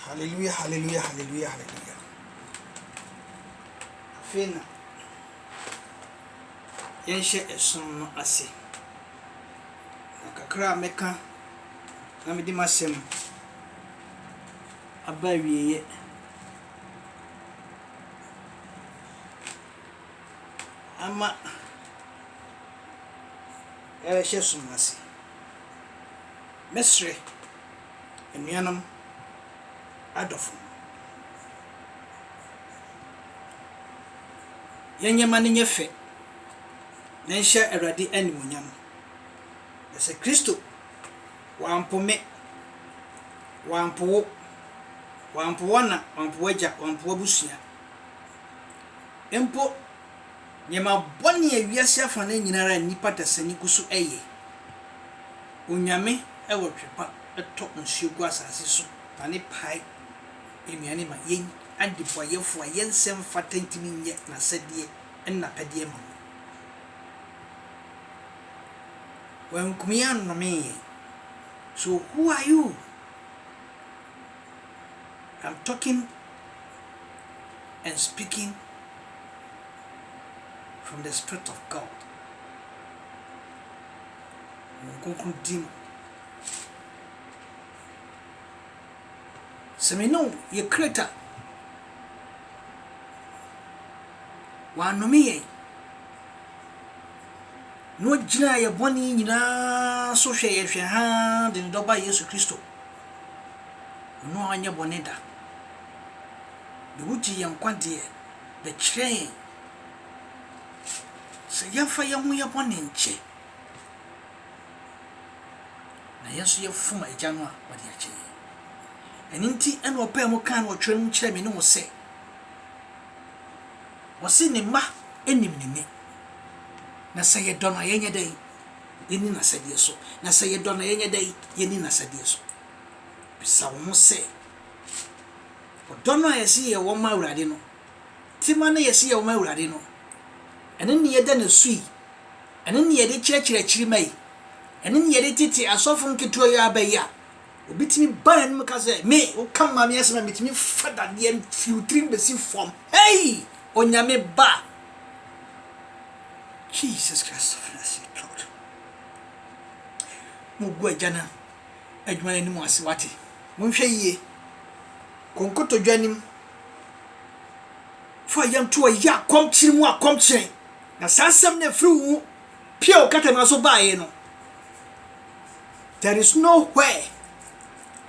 Hallelujah hallelujah hallelujah hallelujah Afei na yɛnhyɛ ɛsom no ase na kakra a mɛka na mede m'asɛm aba awieeɛ ama yɛbɛhyɛ som no ase mɛsrɛ Anuanom adɔfo, yɛn nneɛma no nyɛ fɛ na ɛnhyɛ Awurade animuonyam. Na sɛ Kristo wampo me, wampo wo, wampo w'ana, wampo w'agya, wampo w'abusua mpo, Nneɛma bɔne a wiase afa no nyina ara a nnipa dasani gu so yɛ. Onyame wɔ twepa tɔ nsuo gu asase so na ne pae nnuane ma yɛn adebɔyɛfoɔ a yɛn nsɛ mfata ntimi nyɛ n'asɛdeɛ ne n'apɛdeɛ ma wɔn. Wankum yɛn annomee yɛn. So who are you? I'm talking and speaking from the spirit of God. Nkonkron dim. Sɛ me ne wo yɛ create a, wɔanome yɛn na ɔgyinaa yɛ bɔne nyinaa so hwɛ yɛn hwɛ haa de ne dɔba Yesu Kristo. Ɔno anyɛ bɔne da. Na wogye yɛn nkwagyeɛ de kyerɛ yɛn. Sɛ yɛmfa yɛn ho yɛ bɔne nkyɛ, na yɛn nso yɛfom Agya no a, ɔde akyɛ yɛn. Ɛno nti ɛna ɔpaa mu kaa no wɔ twerɛ no mu kyerɛ me ne wo sɛ, ɔse ne mma nim ne nne, na sɛ yɛdɔ no a yɛnyɛ dɛn? Yɛnni n'asɛdeɛ so. Na sɛ yɛdɔ no a, yɛnyɛ dɛn? Yɛnni n'asɛdeɛ so. Bisa wo ho sɛ, ɔdɔ no a yɛse yɛwɔ ma Awurade no, tema no a yɛse yɛwɔ ma Awurade no, ɛno ne yɛda no su yi? Ɛno ne yɛde kyerɛkyerɛ akyiri ma yi? Ɛno ne yɛde tete asɔfo nketewa yi ara ba yi a? Obi tumi ba n'anim ka sɛ, Me, woka me maame asɛm a, metumi fa dadeɛ firi wo tirim bɛsi fam. Hei! Onyame ba! Jesus Christ of Nazareth, Lord. Mogu agya no adwuma no anim ase, wate? Monhwɛ yie. Kɔ nkotodwe anim. Fa yam to ɔyɛ akɔmkyere mu akɔmkyere. Na saa asɛm no afiri wo mu pie wo katamaa so baeɛ no. There is no where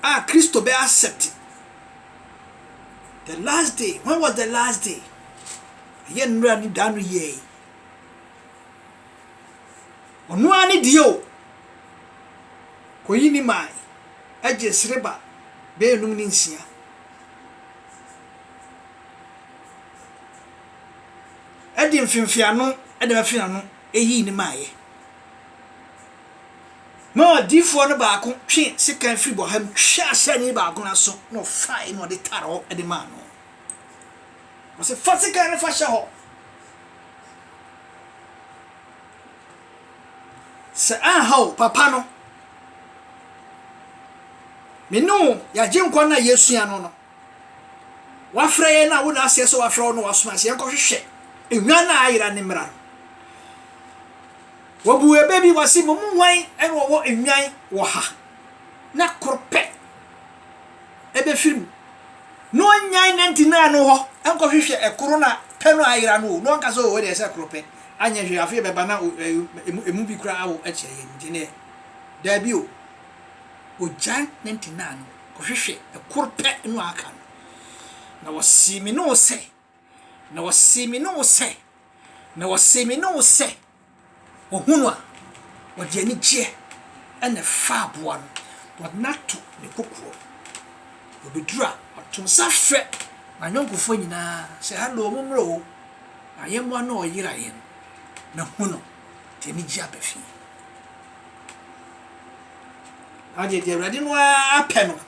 a Kristo bɛ accept the last day. When was the last day? Ɛyɛ nnura ne da no yɛe. Ɔno ara ne deɛ o. Kɔyi ne mae agye sreba bɛyɛ num ne nsia. Ɛde mfimfiano ɛde bɛfe ano ɛyii ne maayɛ. Na ɔdiyifoɔ no baako twee sekan firi bɔha mu twee asraani baako no aso, na ɔfaeɛ na ɔde taree hɔ de maa no. Ɔse, fa sekan no fa hyɛ hɔ. Sɛ anha o, papa no, me ne wo yɛagye nkwa no a yɛsua no no, wafrɛ yɛn na wo na aseɛ sɛ wafrɛ wo na wasoma sɛ yɛnkɔhwehwɛ nnwan no a ayera ne mmara no. Wɔbuu ɛbɛ bi, wɔse, Mo mu hwan na ɔwɔ nnwan wɔ ha na koro pɛ bɛfiri mu, na ɔnnyan nantinaa no hɔ nkɔhwehwɛ koro na pɛ no ayera no o, na ɔnka sɛ, O, ɛdeɛ sɛ koro pɛ, anyɛ hwee, afei ɛbɛba na emu bi koraa awo akyerɛ yɛn nti deɛ, daabi o. Ɔgyan nantinaa no kɔhwehwɛ koro pɛ no a aka no, na wɔsee me ne wo sɛ, na wɔsee me ne wo sɛ, na wɔsee me ne wo sɛ. Wɔhu no a, wɔde anigyeɛ na ɛfa aboa no. Wɔde no ato ne kokoam. Ɔbɛduru a, ɔto nsa frɛ n'ayɔnkofoɔ nyinaa sɛ, Hallo, mommra o, ayɛmmoa no a ɔyera yɛn no, mahu no. Ɔde anigyeɛ aba fie. Adeɛ deɛ Awurade no ara pɛ no.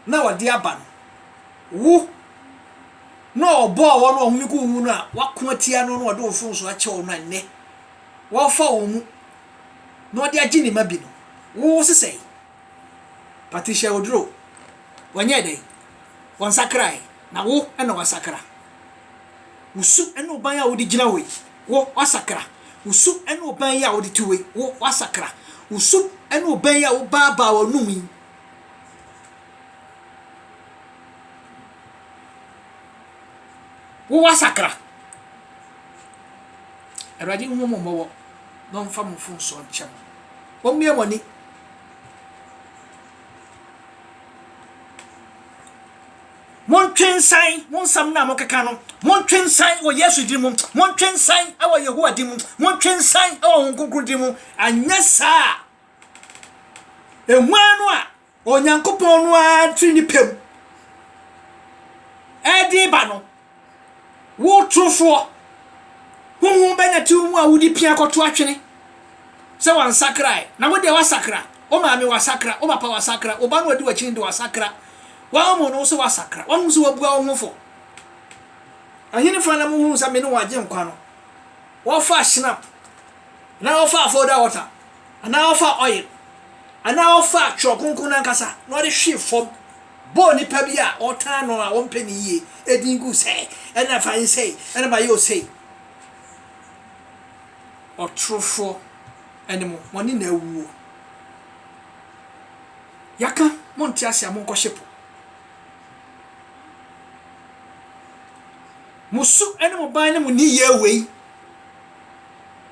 na wɔde aba no, wo na ɔbɔɔ wɔn a wɔn ho gu wo ho no a woako atia no na ɔde wo mfomso akyɛ wɔn a nnɛ wɔrefa wɔn mu na ɔde agye ne mma bi no, wo sesɛe. Patricia Oduro, wɔnyɛɛ dɛn? Wɔnsakrae, na wo na woasakra. Wo su ne wo ban a wode gyina hɔ yi, wo, woasakra. Wo su ne wo ban yi a wode tu hɔ yi, wo, woasakra. Wo su ne wo ban yi a wobaa baa w'anom yi, Wowɔ asakra. Awurade nhu mo mmɔbɔ na ɔmfa mo mfomsoɔ nkyɛ mo. Mommie mo ani. Montwe nsan mo nsɛm no a mokeka no. Montwe nsan wɔ Yesu din mu. Montwe nsan wɔ Yehowa din mu. Montwe nsan wɔ Honhom Kronkron din mu. Anyɛ saa a, Ehua no a Onyankopɔn no ara firi ne pɛ mu ɛde ba no, wo torofoɔ, honhom bɛnya te wo mu a wode pia kɔto atwene sɛ wansakrae, na wo deɛ wasakra, wo maame wasakra, wo papa wasakra, wo ba no ɔdi w'akyi no de wasakra, wahomo no sɛ wasakra, wahu sɛ wabua wo ho fɔ. Ɛhenefoɔ na mohunu sɛ me ne wɔn agye nkwa no? wɔfa shinap anaa wɔfa afɔda wɔta anaa wɔfa oil anaa wɔfa twerɛ kronkron no ankasa na wɔde hwe fam bɔɔ nipa bi a wɔtaa no a wɔmpɛ ne yie edin gu sɛ ɛna fa nsɛe ɛna ba yɛ osei ɔtorofoɔ ɛne mo mo ne na awuo yɛaka monte ase a monkɔhye po Mo su ne mo ban ne mo nneyɛɛ wei.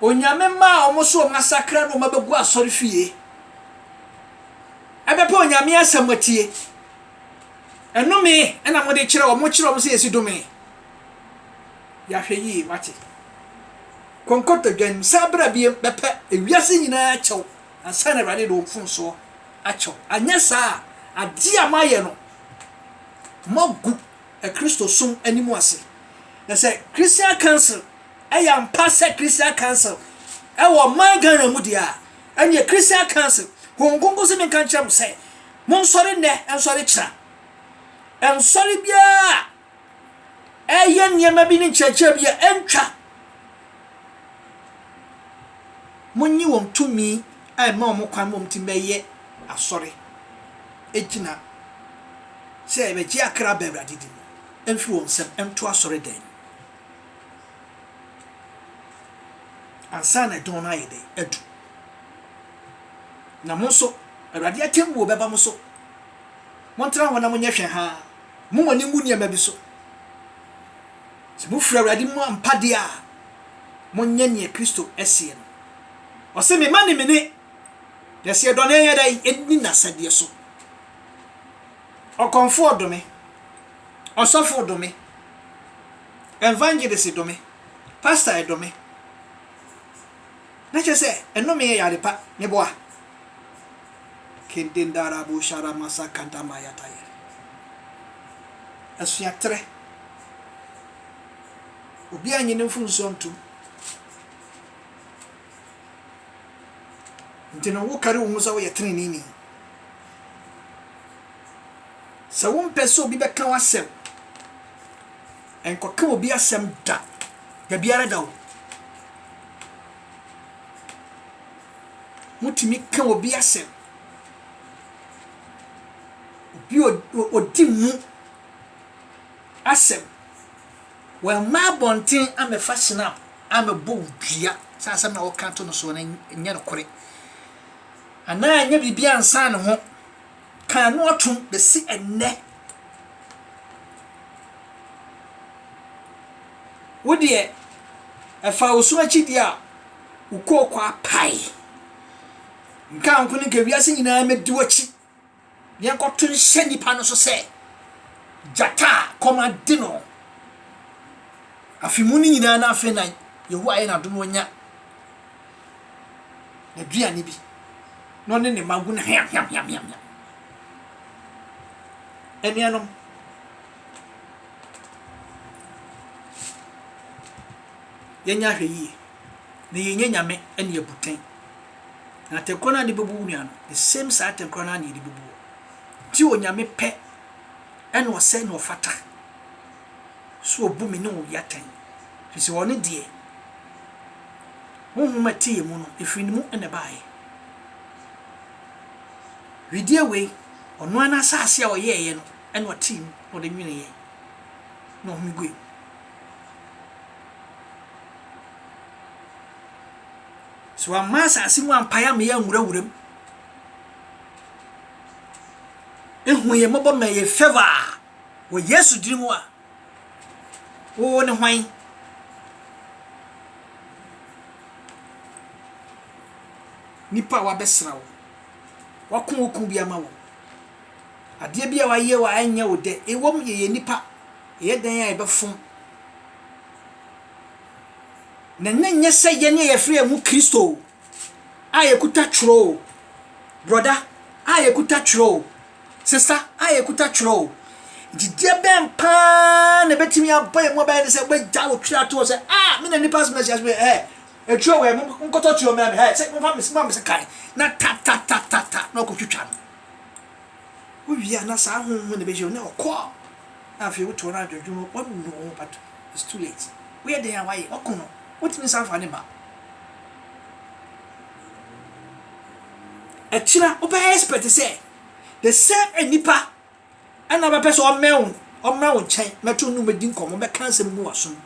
Onyame mma a wɔn so wɔn asakra ne wɔn abɛgu asɔre fie. Ɛbɛpɛ Onyame asɛm atie. Ɛnome na mode kyerɛ wɔn, mokyerɛ wɔn sɛ yɛsi dome. Yɛahwɛ yie, wate. Kɔnkɔtɔdwan, san bra biem, bɛpɛ ewiase nyinaa kyɛw ansa na Awurade de wɔn mfomsoɔ akyɛw. Anyɛ saa a, adeɛ a moayɛ no, moagu Kristosom anim ase. Na sɛ Christian Council yɛ ampa sɛ Christian Council wɔ ɔman Ghana mu deɛ a, ɛneɛ Christian Council, Honhom Kronkron se menka nkyerɛ mo sɛ, monsɔre nnɛ, nsɔre kyena. Ɛnsɔre biara a ɛyɛ nneɛma bi ne nkyerɛkyerɛ bi a ɛntwa. Monnye wɔn tumi a ɛma wɔn kwan ma wɔtumi bɛyɛ asɔre gyina sɛ yɛbɛgye akra aba Awurade din mu mfiri wɔn nsam nto asɔredan mu ansa na dɔn no ayɛ dɛn adu. Na mo nso, Awurade atemmuo bɛba mo so. Montena hɔ na monyɛ hwɛhaa. Mommu mo ani ngu nneɛma bi so. Sɛ mofiri Awurade mu ampa deɛ a, monyɛ deɛ Kristo seɛ no. Ɔse, Me mma ne me ne, na sɛ yɛdɔ no a yɛnyɛ dɛn? Yɛdi n'asɛdeɛ so. Ɔkɔmfoɔ dome, ɔsɔfo dome, evangelist dome, pastor dome, Na kyerɛ sɛ nnome yɛ yare pa ne boa. Asua terɛ. Obiara nnye ne mfomsoɔ ntom. Nti no, wokari wo ho sɛ woyɛ teneneeni. Sɛ wompɛ sɛ obi bɛka w'asɛm. Nkɔka obi asɛm da, dabiara da o. Motumi ka obi asɛm. Obi odi mu asɛm. Wamma abɔnten amɛfa snap amɛbɔ wo dua sɛ asɛm na woka to no soɔ no nyɛ nokorɛ. Anaa ɛnyɛ biribi ansa ne ho. Kan no atom besi ɛnnɛ. Wo deɛ, ɛfaa wo so akyidie a wokɔɔ kɔapae. Nka nko no, nka wiase nyinaa mmɛdi w'akyi na yɛnkɔto nhyɛ nnipa no so sɛ, Gyata a kɔm ade no. Afe mu no nyinaa na afei na Yehowa ayɛ n'adom wanya. n'aduane bi na ɔne ne mma gu no hweam hweam hweam hweam hweam anuanom yɛnyɛ ahwɛ yie na yɛnyɛ nyame ne abuten na atɛkorɔ no a de bɛbu wo nua no the same saa atɛkorɔ no a na yɛde bɛbu wo nti onyame pɛ ɛna ɔsɛ na ɔfata so obu me ne obi atɛn, ɛfiri sɛ ɔno deɛ, honhom a ɛteɛ mu no, ɛfiri ne mu na ɛbaeɛ. Wedeɛ wei, ɔno ara n'asase a ɔyɛeɛ no na ɔtee mu na ɔde nweneeɛ na ɔhome guiɛ. So wamma asase mu ampae ama yɛanwurawura mu. Ehu yɛn mmɔbɔ ma yɛ favor. Wɔ Yesu din mu a, wo ne hwan? Nipa a wabɛsra wo, wako wo kun bi ama wo, adeɛ bi a wayɛ wo a ɛnyɛ wo dɛ, ɛwom yɛyɛ nipa, ɛyɛ dɛn a ɛbɛfom. Na nyɛ nyɛ sɛ yɛn ne yɛfrɛ yɛn ho Kristo o. a yɛkuta twerɛ o, brɔda a yɛkuta twerɛ o, sesa a yɛkuta twerɛ o, gyidie bɛn paa na ɛbɛtumi abɔ yɛn mu abayɛ ne sɛ wobɛgya wo twerɛ ato hɔ sɛ a me na nipa asoma ahyia so ɛ ɛtwerɛ wɔ ɛmo nkɔtɔ twerɛ mmra me ha sɛ momfa mesi ma me se kan na ta ta ta ta ta na ɔkɔtwitwa no wowie a na saa ho ho na ɛbɛhyɛ wo na ɔkɔ na afei wotɔ no adwodwo no wɔnunu wo ho pato it's too late woyɛ dɛn a wayɛ wɔko no wotumi san fa ne ba Akyiri a wobɛyɛ expect sɛ the same nnipa ɛna ɔbɛpɛ sɛ ɔmmɛn wo ɔmmra wo nkyɛn mɛto nnum mɛdi nkɔmmɔ mɛka nsɛm gu w'asom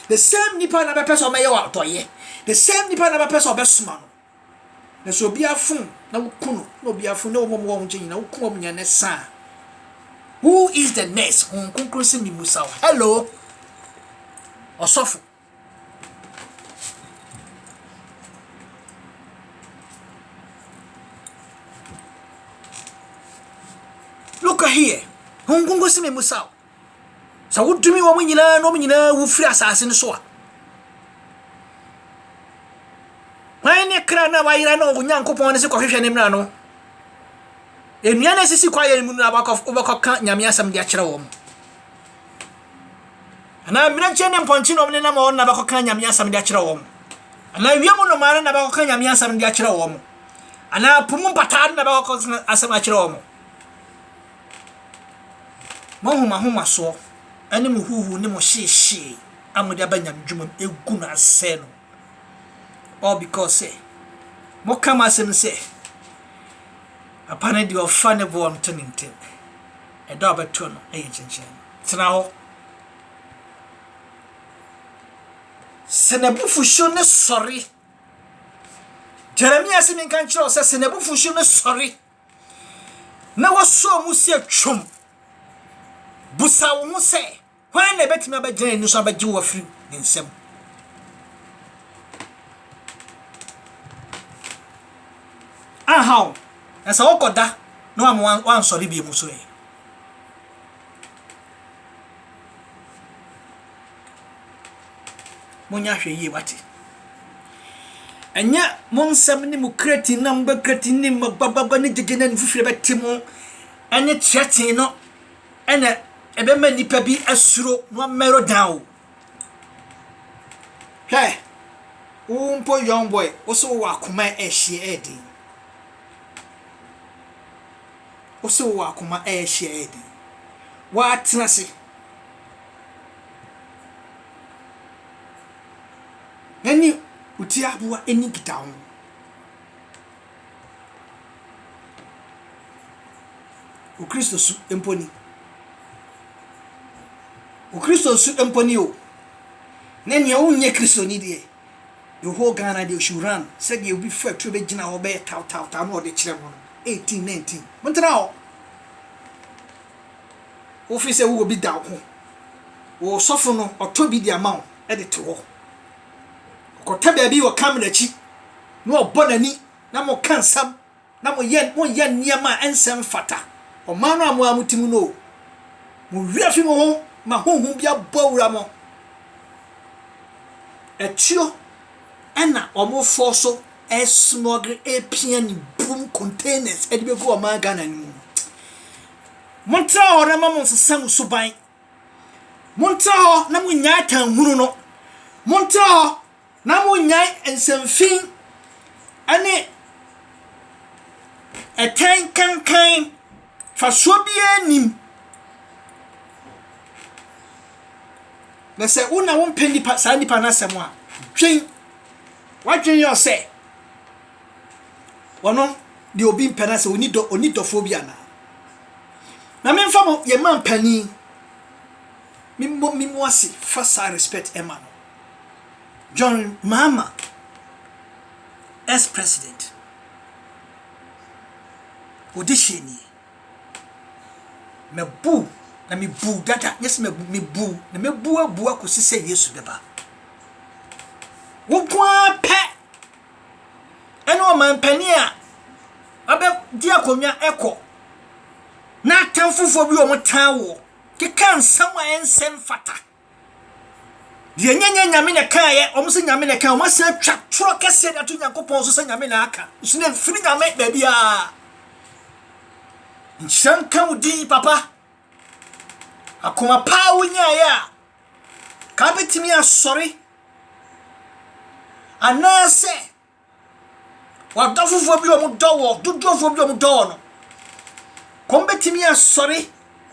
the same nnipa na bɛpɛ sɛ ɔmɛyɛ wɔ adɔyɛ the same nnipa na bɛpɛ sɛ ɔbɛsoma no na sɛ obi afom na woku no na obi afom na wɔn wɔn nkyɛn nyinaa woku wɔn nyinaa na saa who is the next honhom kronkron sɛ mimusa wo hello ɔsɔfo Look here, ho nkonko si me mu saw. Sɛ wodumi wɔn nyinaa na wɔn nyinaa wu firi asase no so a. Hwan ne kra na wayera na Onyankopɔn ne se kɔhwehwɛ ne mmara no? Nnua na esisi kwaeɛ no mu no na wobɛkɔ wobɛkɔka Nyame asɛm de akyerɛ wɔn. anaa mmirekyie ne mpɔnkyenɔm no nam wɔn na bɛkɔka nyame asɛm de akyerɛ wɔn anaa wiem nnomaa no na bɛkɔka nyame asɛm de akyerɛ wɔn anaa po mu mpataa no na bɛkɔka asɛm akyerɛ wɔn mo ahomahomasoɔ ne mo huhu ne mo hyeehyee a mode aba nyame dwuma mu ɛgu no asɛe no all because sɛ moka mo asɛm sɛ papa no deɛ ɔfa ne boɔ nto ne ntɛm ɛda a ɔbɛto no ɛyɛ kyenkyen Tena hɔ. Sɛ n'abufuhyew no sɔre. Jeremia se menka nkyerɛ wo sɛ sɛ n'abufuhyew no sɔre na wɔsɔɔ mu si atwam, busa wo ho sɛ, hwan na ɛbɛtumi abɛgyina n'ani so abɛgye wo afiri ne nsam? Aha o, na sɛ wokɔda na wansɔre bio mu so ɛ. Monyɛ ahwɛ yie wate. Ɛnyɛ mo nsɛm ne mo kreti na mo bɛ kreti ne mo bababa ne gyegye na nfufuo bɛte mo ɛne kyerɛtee no ɛna ɛbɛma nipa bi asuro na ɔmɛro dan o. Hwɛ, wo mpo young boy, wo so wɔ akoma ɛhyeɛ ɛden. wo se wowɔ akoma ɛɛhye ayɛ den woatena ase ɛne wo ti aboa ɛni nkitaho no wo kristo su mpo ni wo kristo su mpo ni o na nea wonyɛ kristoni deɛ the whole Ghana deɛ should run sɛdeɛ obi fa aturo bɛgyina hɔ bɛyɛ taw taw taw na ɔde kyerɛ mo no eighteen nineteen mo ntena hɔ wofi sɛ wowɔ bi da wo ho wo sɔfo no ɔtɔ bi de ama wo ɛde to hɔ ɔkɔtɛ baabi wɔ kam n'akyi na ɔbɔ n'ani na mo ka nsɛm na moyɛ moyɛ nneɛma a ɛnsɛ mfata, ɔman no a mo ara mote mu no o, mo werɛ afi mo ho ma honhom bi abɔ awura mo. Atuo ɛna wɔn fɔ so ɛsmɔgere ɛpia ne bum containers ɛde bɛgu ɔman Ghana no mu no. Montra hɔ na ma mo nsesa mo suban. Montra hɔ na mo nyaa tanhunu no. Montra hɔ Na monnyae nsɛmfi ne ɛtɛn kankan, mfasoɔ biara nnim. Na sɛ wo na wompɛ nipa saa nipa no asɛm a, dwen wadwen yɛ sɛ wɔno deɛ obi mpɛ no sɛ ɔni dɔ ɔni dɔfoɔ bi anaa. Na memfa mo yɛ ma mpanin, memmɔ me mu ase fa saa respect ɛma no. John Mahama, ex-president, ɔde hyɛɛ nie, Mabu, na mebu dada, nyɛ sɛ mabu, mebu, na mɛbu abu akɔsi sɛ Yesu bɛba. Wo nko ara pɛ ɛne ɔmampanin a abɛdi akonnwa ɛkɔ na atamfofoɔ bi wɔn taa woɔ keka nsɛm a ɛnsɛ mfata. Deɛ ɛnyɛ nyɛ nyame na ɛkaeɛ wɔn sɛ nyame na ɛkaeɛ wɔn asan atwa torɔ kɛseɛ de ato nyankopɔn so sɛ nyame na aka nso na mfiri nyame baabi a nhyira nka wo din papa akoma paa wonyaeɛ a ka bɛtumi asɔre anaasɛ W'adɔfofoɔ bi a wɔdɔ wɔ, dodoɔfoɔ bi a wɔdɔ wɔ no, kɔm bɛtumi asɔre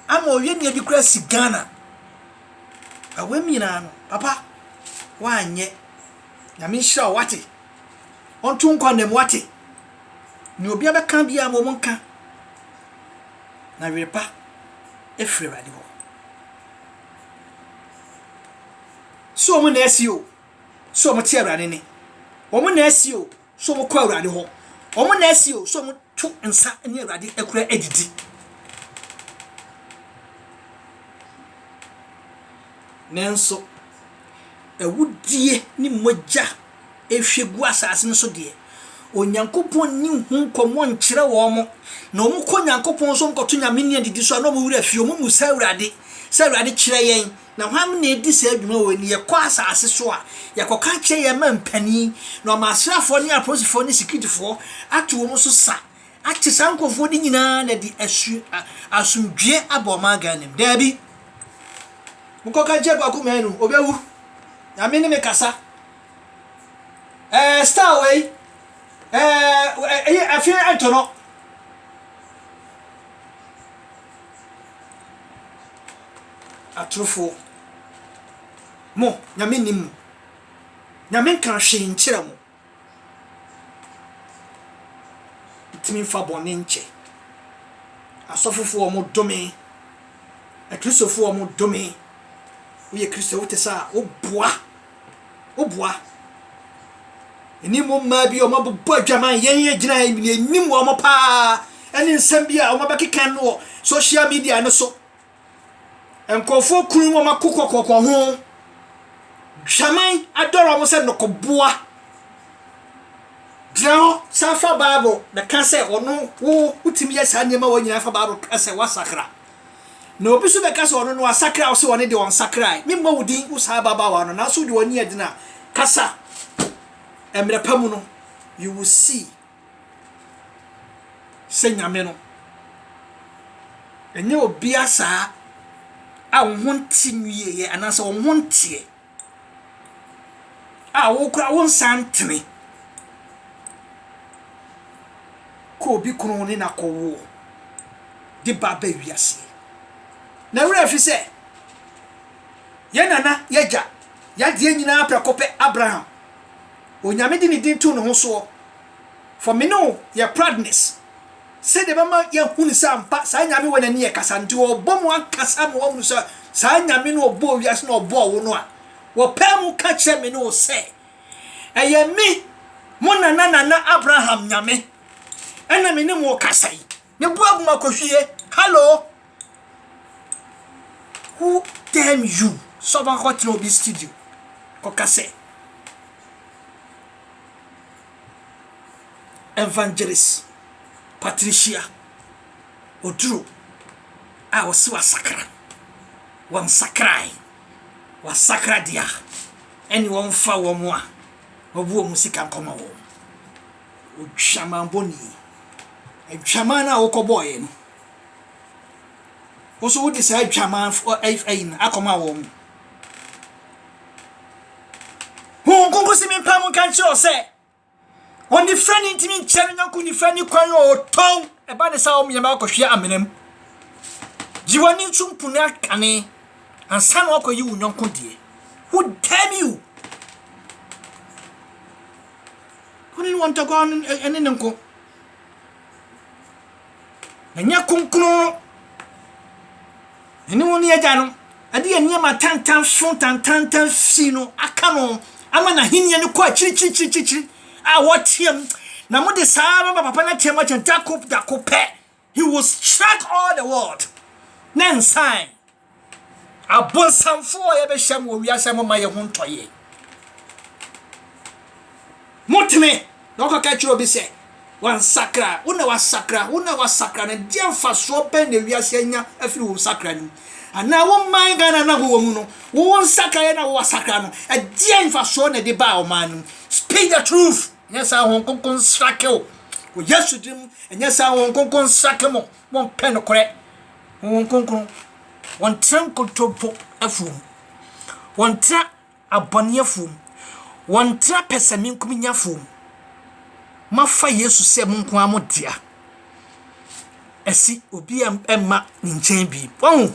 ama ɔyɛ nea bi kora asi Ghana. Na wɔn nyinaa no, papa, woanyɛ. Nyame nhyira wo, wate. Ɔnto nkɔ nam, wate. Nea obi abɛka biara ma wɔn nka. Na were pa efiri Awurade hɔ. So wɔn na asi o. sɛ wɔte Awurade nne. Wɔn na asi o sɛ wɔkɔ Awurade hɔ. Wɔn na asi o sɛ wɔto nsa ne Awurade akura adidi. Nanso, awudie ne mogya ehwie gu asase no so deɛ, Onyankopɔn nni ho nkɔmmɔ nkyerɛ wɔn. Na wɔkɔ Onyankopɔn so, wɔkɔto nyame nne adidi so a, na wɔn werɛ afi, wɔmmisa Awurade sɛ, Awurade kyerɛ yɛn Na hwan na edi saa dwuma wei no? Yɛkɔ asase so a, yɛkɔka kyerɛ yɛn mma mpanin, na wɔma asraafoɔ ne apolisifoɔ ne sikiritifoɔ ato wɔn so sa, akye saa nkurɔfoɔ no nyinaa na de asu a, asomdwoeɛ aba ɔman Ghana mu. Daabi. Mokɔka nkyerɛ Kwaku Manu, ɔbɛwu. Nyame ne me kasa. Ɛɛ, star wei, ɛɛ, ɛyɛ afei ɛntɔ no. Atorofo, mo, Nyame nnim mo. Nyame nka hwee nkyerɛ mo. Ntumi mfa bɔne nkyɛ. Asɔfofo wɔn dome. Akristofo wɔn dome. Woyɛ Kristo wote sɛ a woboa. Woboa. Ɛni mo mmaa bi a wɔabobɔ adwaman yɛn yɛ gyina yɛn nim wɔn paa ɛne nsɛm bi a wɔabɛkeka no wɔ social media no so Nkurɔfoɔ kunu wɔn akokoakoko ho, Hwaman adɔre wɔn sɛ nnɔkɔboa. Gyina hɔ san fa Bible na ka sɛ ɔno wo wotumi yɛ saa nneɛma wɔ nyinaa fa Bible ka sɛ woasakra. Na obi nso bɛka sɛ ɔno no asakra wo sɛ ɔne deɛ ɔnsakrae. Memmɔ wo din wo saa ababaawa no nanso wode w'ani agyina kasa mmerɛ pa mu no you will see. sɛ nyame no ɛnyɛ obia saa a wo ho nte nwieɛ anaasɛ wo ho nteɛ a wo kora wo nsa ntene kɔ obi kono ne na kɔwoɔ de ba bɛ wiaseɛ na werɛ afi sɛ yɛ nana yɛgya yadeɛ nyinaa prɛko pɛ abraham Onyame de ne din too ne ho soɔ, for me ne wo yɛ proudness, sɛdeɛ ɛbɛma yɛahunu sɛ ampa saa Nyame wɔ n'ani ɛkasa, nti wɔbɔ mu ankasa ma woahunu sɛ saa Nyame no a ɔbɔɔ wiase na ɔbɔɔ wo no a wɔpae mu ka kyerɛ me ne wo sɛ ɛyɛ me mo nana nana Abraham Nyame ɛna me ne mo rekasa yi. Ne bo abu ma kohwie. Hello! Who damn you? Sɛ ɔba kɔ tena obi studio. Kɔka sɛ. Evangelist Patricia Oduro a wɔsi wasakra. Wɔnsakrae. Wasakra deɛ a ɛne wɔmfa wɔn a wɔbu wɔn sika nkɔma wɔn. Odwamanbɔ ni. Adwaman no a wokɔbɔɔeɛ no, wo nso wode saa adwaman fo ɛ ayi no akɔma wɔn. Honhom Kronkron si me mpa mu nka nkyerɛ wo sɛ, ɔnifra no ntumi nkyɛ no nyɔnko nifra ne kwan a ɔtɔn ɛba ne sɛ wɔmmeɛma akɔhwea amena mu. Gye w'ani nso mpu no akane ansa na wakɔyi wo nyɔnko deɛ. Who damn you? Wo ne wɔn ntɔkwaw no ne ne nko. Na nyɛ kronkron. Ɛne wo ne agya no ɛde yɛ nneɛma tantan so tantantan fi no aka no ama n'ahenni no kɔ akyirikyirikyirikyiri a wɔteam na mode saa bɛba papa no ateam akyɛ dako dako pɛ He will strike all the world. Ne nsan. Abonsamfo a yɛbɛhyɛm wɔ wiase mo ma yɛ ho ntɔ yɛ. Motene na ɔkɔ ka kyerɛ obi sɛ wansakra, wo na wasakra, wo na wasakra na deɛ mfasoɔ bɛn na wiase anya afiri wo nsakra no mu? Anaa wo man Ghana na wowɔ mu no, wo nsakra yɛ na wo wasakra no, ɛdeɛ mfasoɔ na ɛde baa ɔman no mu? Speak the truth. ɛnyɛ saa wɔn nkonko nsrake o wɔ yesu din mu ɛnyɛ saa wɔn nkonko nsrake mo wɔn pɛ nokorɛ wɔn nkonko wɔn tena nkontompo afuom wɔn tena abɔne afuom wɔn tena pɛsɛmenkominya afuom mafa yesu sɛ mo nko ara mo dea ɛsi obi ɛmma ne nkyɛn bi wɔn ho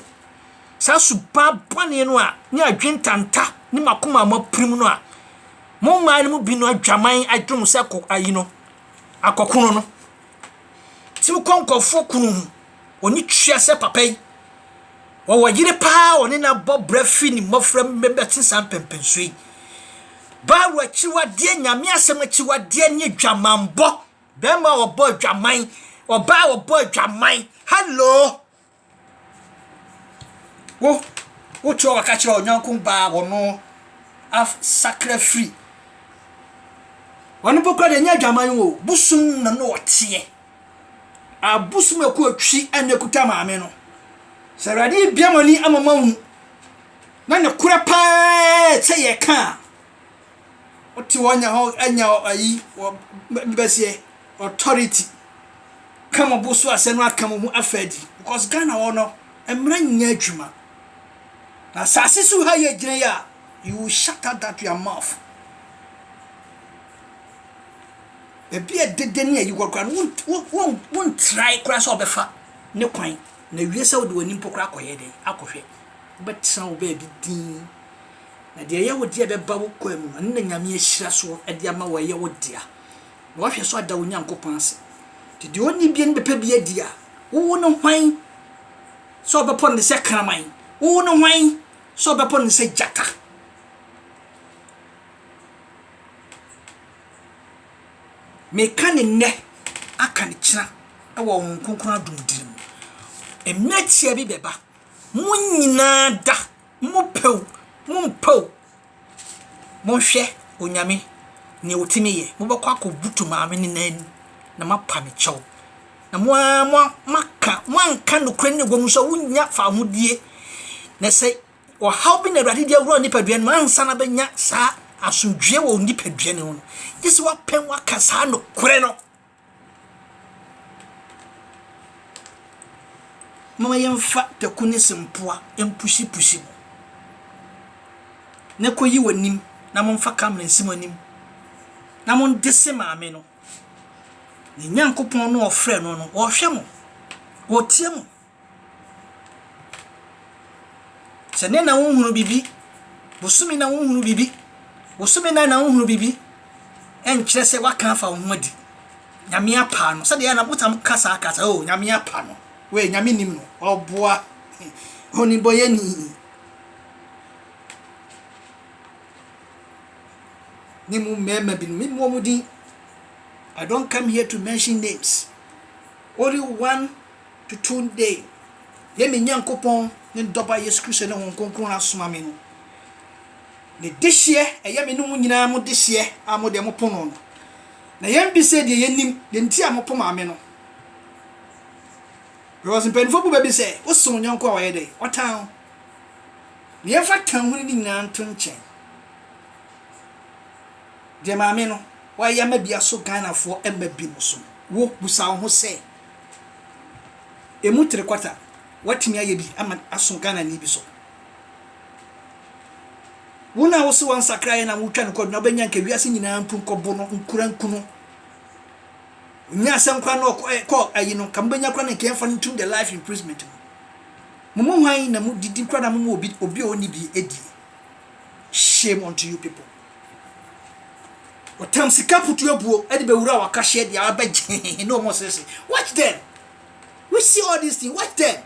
saa suba bɔne no a ne adwentanta ne makoma a mapirim no a mo mmaa no mu binom adwaman adwene mo sɛ kɔ ayi no akɔkono no ti mo kɔ nkɔfoɔ kunu ho ɔni tua sɛ papa yi wɔwɔ yere paa ɔne no abɔ brɛ fi ne mmɔfra mmɛbɛte saa mpɛmpɛnsuo yi baawɔ akyiwadeɛ nyame asɛm akyiwadeɛ ne adwamanbɔ bɛrima ɔbɔ adwaman ɔbaa ɔbɔ adwaman hello Wo, wo te hɔ waka kyerɛ ɔnyanko baa wɔno af sakra firi. Wɔn mpo kora deɛ ɛnyɛ adwaman o, bosom na no ɔteɛ. Abosom ɛkɔ atwi ɛna ɛkuta maame no. Sɛ awurade yi bia mo ani ama mo ahu na ne korɛ paa sɛ yɛka a, Wote hɔ nya hɔ anya ayi wɔ mbɛseɛ authority. Ka mo bo so asɛm no aka mo ho afa adi because Ghana hɔ no mmara nyɛ adwuma. Na asase so ha yɛ gyina yi a you will shut up that your mouth. Baabi a dede ne ayi wɔ koraa no wontrae koraa sɛ ɔbɛfa ne kwan na wie sɛ wode w'ani mpo koraa akɔyɛ dɛn akɔhwɛ. Wobɛtena wo baabi din. Na deɛ ɛyɛ wo dea bɛba wo kwan mu, ɛno na Nyame ahyira soɔ de ama wo, ɛyɛ wo dea, na woahwɛ so ada wo Nyankopɔn ase. Nti deɛ ɔnni bie no bɛpɛ bi adi a, wowo no hwan sɛ ɔbɛpɔ no sɛ kraman? Wowo no hwan sɛ ɔbɛpɔ no sɛ gyata? Meka ne nnɛ, aka ne kyena wɔ Honhom Kronkron adom diri mu. Mmerɛ tia bi bɛba, mo nyinaa da Mompɛ o, mompɛ o, monhwɛ Onyame neɛ otimi yɛ, mobɛkɔ akɔ butu maame no nan mu na moapa ne kyɛw, na mo ara moaka, moanka nokorɛ no wɔ mu nso a wonnya fawohodie, na sɛ ɔhaw bi na Awurade de awura onipadua no mu ansa na bɛnya saa asomdwoeɛ wɔ onipadua no mu no, gye sɛ woapɛn woaka saa nokorɛ no. Momma yɛmfa taku ne sempoa mpusipusi mo, na ɛkɔyi wɔ anim, na momfa camera nsi mo anim, na mode se Maame no, ne Nyankopɔn no a ɔfrɛ no no, ɔrehwɛ mo, ɔretie mo. Sɛ nnɛ na wonhunu biribi, bosome na wonhunu biribi, bosome nan na wonhunu biribi, ɛnkyerɛ sɛ waka afa wo ho adi. Nyame apa no. Sɛdeɛ na wotam ka saa ka sɛ, oh, Nyame apa no. Wei, Nyame nim no. Ɔboa. Onibɔyɛni. ne mu mmarima binom me mmɔ mu din i don't come here to mention names only one Tutuun dee yɛ me Nyankopɔn ne ne Dɔba Yesu Kristo ne Honhom Kronkron a asoma me no, ne dehyeɛ ɛyɛ me ne mo nyinaa mo dehyeɛ a mo deɛ mo po no no. Na yɛn bisɛ deɛ yɛ nim deɛ nti a mo po maame no. Because mpanyinfoɔ bu bɛ bi sɛ, wo se wo nyɔnko a wayɛ dɛn? Ɔtan ho. Na yɛn fa tan huni ne nyinaa nto nkyɛn. Deɛ maame no wayɛ ama bi aso Ghanafoɔ mma bi no so no, wo busa wo ho sɛ, Ɛmu three quarter woatumi ayɛ bi ama aso Ghana ni bi so. Wona a wose wansakra yɛ na wotwa no kɔdu na wobɛnya nka wiase nyinaa mpu nkɔbo no nkura nku no. Nya asɛm kora no kɔ ayi no ka mobɛnya kora no nka yɛmfa no ntum the life imprisonment no. Momu hwan na mo didi kora na momu obi obi ɔni bi edi. Shame unto you people. Wɔtam sika putu abuo de bɛwura wakahyeɛ deɛ abɛgye na wɔn sese. Watch them. We see all these things. Watch them.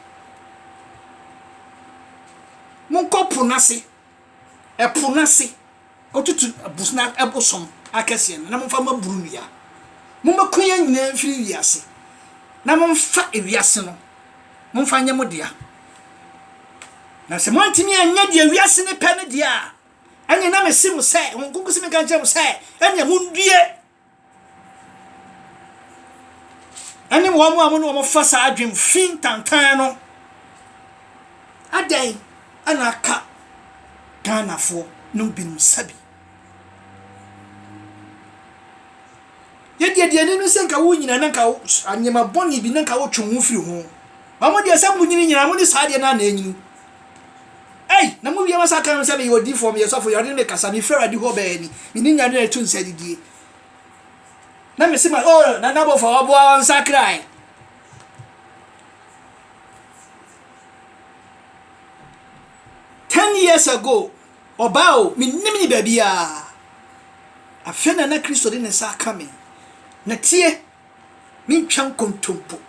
Monkɔ po n'ase. Ɛpo n'ase. Kɔtutu abusna ɛbosom akɛseɛ no na momfa ma buru nnua. Mommɛko yɛn nyinaa mfiri wiase na momfa ewiase no momfa nyɛ mo dea. Na sɛ moantumi anyɛ deɛ wiase no pɛ no deɛ a, Ɛnneɛ na mese mo sɛ, Hom nkonkɔsi menka nkyerɛ mo sɛ, ɛnneɛ mondue. Ɛne wɔn a mo ne wɔn fa saa adwene fi tantan no. Adɛn na aka Ghanafoɔ nom binom sabi? Yɛdeɛ deɛ ani no sɛ nka wo nyina na nka nneɛma bɔne bi na nka wotwe wo ho firi ho. Wɔn deɛ sɛ monyini nyinaa mo ne saa adeɛ no a na ɛnyini. Ei, na mo wie masa ka ho sɛ meyɛ odiyifoɔ, meyɛ sɔfo, Awurade ne me kasa, mefi Awurade hɔ baa ni, mene nya ne ɛto nsa didie. Na mese ma, o, na n'abɔfoɔ ɔboa wɔn nsakrae. Ten years ago, ɔbaa o, menim ne baabiara. Afei na na Kristo de ne nsa aka me. Na tie, mentwa nkontompo.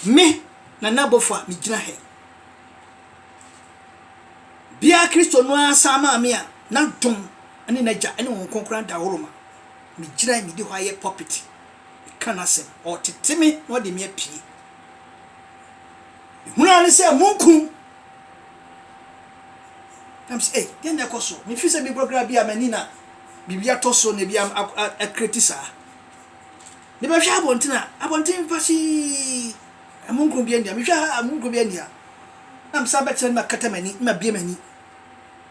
Me, Nana Bofa megyina ha yi. Bia Kristo no ara san maa me a N'adom ne N'Agya ne Honhom Kronkron ada ahorow ma. Megyina yi, medi hɔ ara yɛ pulpit, meka N'asɛm. Ɔretete me na ɔde me apue. Mehunu ara ne sɛ munkum Na mese, ei, deɛ na ɛkɔ so? Mefi sɛ mebɔ kra bi a m'ani na biribi atɔ so na ebi akreti saa. Mebɛhwɛ abɔnten a, abɔnten pasii, amununkum bi ania. Mehwɛ ha, amununkum bi ania. Na mesan bɛkyerɛ no makata m'ani, mabie m'ani.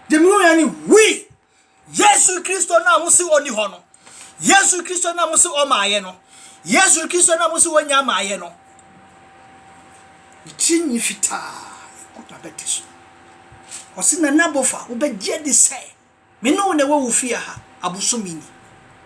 Deɛ mehu yɛ ne hui! Yesu Kristo no a mo se ɔni hɔ no, Yesu Kristo no a mo se ɔmaayɛ no, Yesu Kristo no a mo se wɔnya maayɛ no, ne tiri nwi fitaa ɛgu n'abati so. Ɔse Nana Bofa, wobɛgye adi sɛ me ne wo na ɛwɔ wo fie ha abosome ni.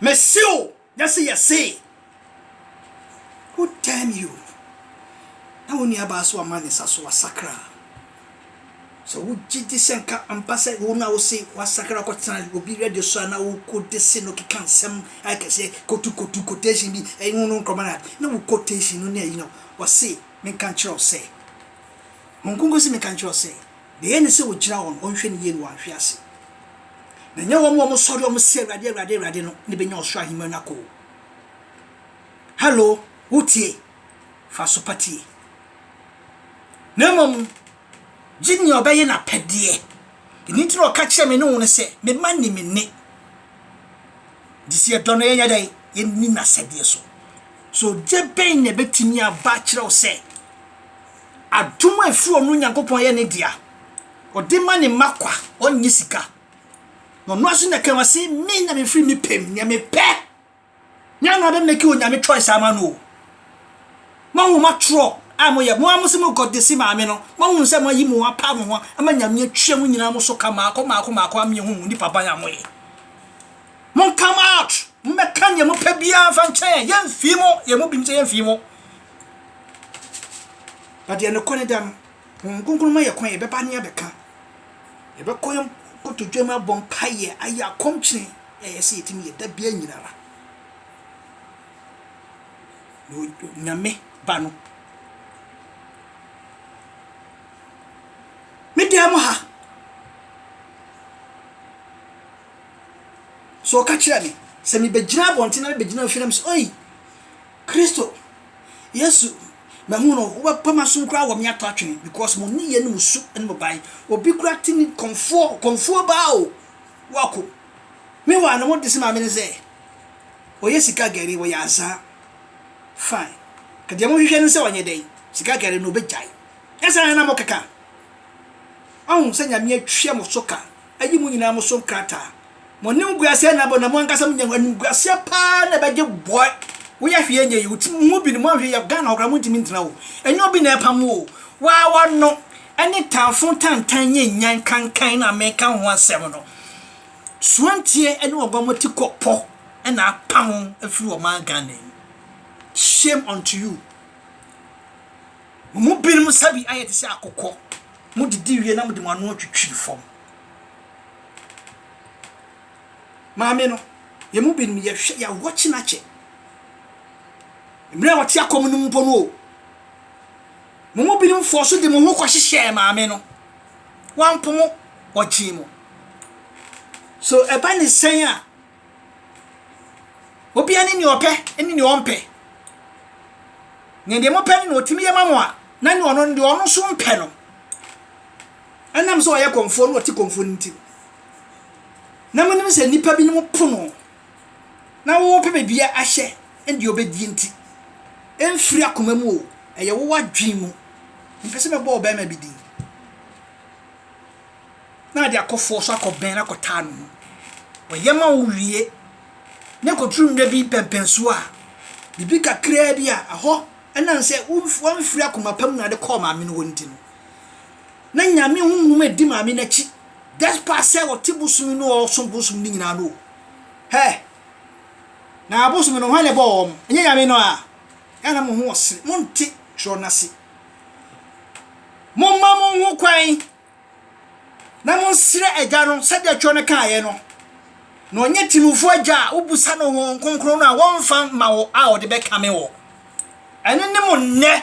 Me se o nyɛ se yɛ see. Good time you na wo nua baa so ama ne nsa so wasakra. Sɛ wo gye di sɛ nka ampa sɛ wo na wo se wasakra kɔtena obi radio so a na wo kɔ de se no keka nsɛm ayɛ kɛse kotu kotu quotation bi ɛyi ho no nkrɔma na na wo quotation no ne ɛyi no wɔ se menka nkyerɛ wo sɛ Honkonko se menka nkyerɛ wo sɛ deɛ ɛyɛ ne sɛ ogyina hɔ no ɔnhwɛ ne yie no wanhwe ase. Na ɛnyɛ wɔn a wɔsɔre a wɔse Awurade, Awurade, Awurade no na ebenya ɔsoro ahengua no akɔ o. Hello, wotie? Fa aso pa tie. Na mmom, gye nea ɔbɛyɛ n'apɛdeɛ. Ɛno nti na ɔka kyerɛ me ne wo no sɛ, me mma nni me nne. Gye sɛ yɛdɔ no yɛnyɛ dɛ yɛnni n'asɛdeɛ so. So gye bɛn na ɛbɛtumi aba akyerɛ wo sɛ adom a ɛfiri ɔno Nyankopɔn yɛ ne dea? Ɔde ma ne mma kwa, ɔnnye sika. Na ɔno ara nso na kama se me na mefiri me pɛ mu, nea mepɛ. Nyɛ na ɔbɛ make onyame choice ama no o. Moahu mo atorɔ a moyɛ, mo ara mo se mo God de se maame no, moahunu sɛ moayi mo ho apa mo ho ama nyame atwia mo nyinaa mo so ka maako maako maako ama yɛahu mo nipa ban a moyɛ. Mon come out, mommɛka nea mopɛ biara mfa nkyɛn yɛn, yɛmfii mo, yɛn mu binom sɛ yɛmfii mo. But deɛ nokorɛ da no, Honhom Kronkron ma yɛn kwan, yɛbɛba ne abɛka, yɛbɛkɔ yɛn kotodwam abɔ mpaeɛ, ayɛ akɔmkyene, yɛ yɛ sɛ yɛtumi yɛ da bia nyinara. Nyame ba no. Me dan mu ha. So ɔka kyerɛ me, sɛ mebɛgyina abɔnten na mebɛgyina ofie na mesɛ oi, Kristo Yesu mahu no wobɛpa masom koraa wɔ me atɔ atwene because mo nneyɛ ne mo su ne mo bae obi koraa te ne kɔmfoɔ kɔmfoɔ baa o wako me waa no mo de se maame ne sɛ ɔyɛ sika gari wɔyɛ azaa fine kadeɛ mo hwehwɛ no sɛ ɔnyɛ dɛn sika gari no ɔbɛgyae ɛsɛ na mo keka ɔhu sɛ nyame atwa mo so ka Ayi mo nyinaa mo so nkrataa. Mo animguaseɛ na abɔ na mo ankasa mo nya animguaseɛ paa na ɛbɛgye boy woyɛ hwee nyɛ yi wotim mo bi no mo anhwɛ yɛ Ghana hokora mo ntimi ntena o ɛnyɛ obi na ɛpam mo o waa wano ɛne tanfo tantan nyɛ nyan kankan na meka ho asɛm no suantie ɛne ɔgwa mo ti kɔ pɔ ɛna apam afiri ɔman Ghana yi shame unto you mo mu binom sabi ayɛ te sɛ akokɔ Modidi wie na mode mo ano atwitwi fam. Maame no, yɛn mu binom yɛhwɛ, yɛawɔ kyenakyɛ. Mmerɛ a wɔte akɔm no mpo no o, mo mu binom fɔɔ so de mo ho kɔhyehyɛɛ maame no. Wampo mo, ɔgyee mo. So ɛba ne sɛn a, Obia ne nea ɔpɛ ne nea ɔmpɛ. Na deɛ mopɛ no na ɔtumi yɛ ma mo a, na ne ɔno deɛ ɔno nso mpɛ no. Ɛnam sɛ ɔyɛ kɔmfoɔ na ɔte kɔmfoɔ no nti. Na monim sɛ nnipa binom pono na wɔpɛ baabi ahyɛ deɛ ɔbɛdie nti. Ɛmfiri akoma mu o, ɛyɛ wo w'adwene mu. Mpɛ sɛ mɛbɔ ɔbarima bi din. na ade akɔ fɔɔ so akɔ bɛn akɔ taa no ho. Ɔyɛ ma wo wie na ɛkɔduru mmerɛ bi mpɛnpɛnsoɔ a, biribi kakraa bi a ɛhɔ ɛnam sɛ wamfiri akoma pa mu na wode kɔɔ maame no hɔ nti no, na Nyame honhom ɛdi maame no akyi despite sɛ ɔte bosom no o, ɔsom bosom no nyinaa no o. Hɛ! Na abosom no hwan na ɛbɔɔ wɔn? Ɛnyɛ Nyame no a? Ɛyɛ na mo ho ɔsere, monte twerɛ no ase. Momma mo ho kwan. na monsrɛ Agya no sɛdeɛ Twerɛ no kaeɛ no, na ɔnyɛ tirimufoɔ agya a wobisa no Honhom Kronkron no a wɔmfa mma wo a ɔde bɛkame wo. Ɛno ne mo nnɛ.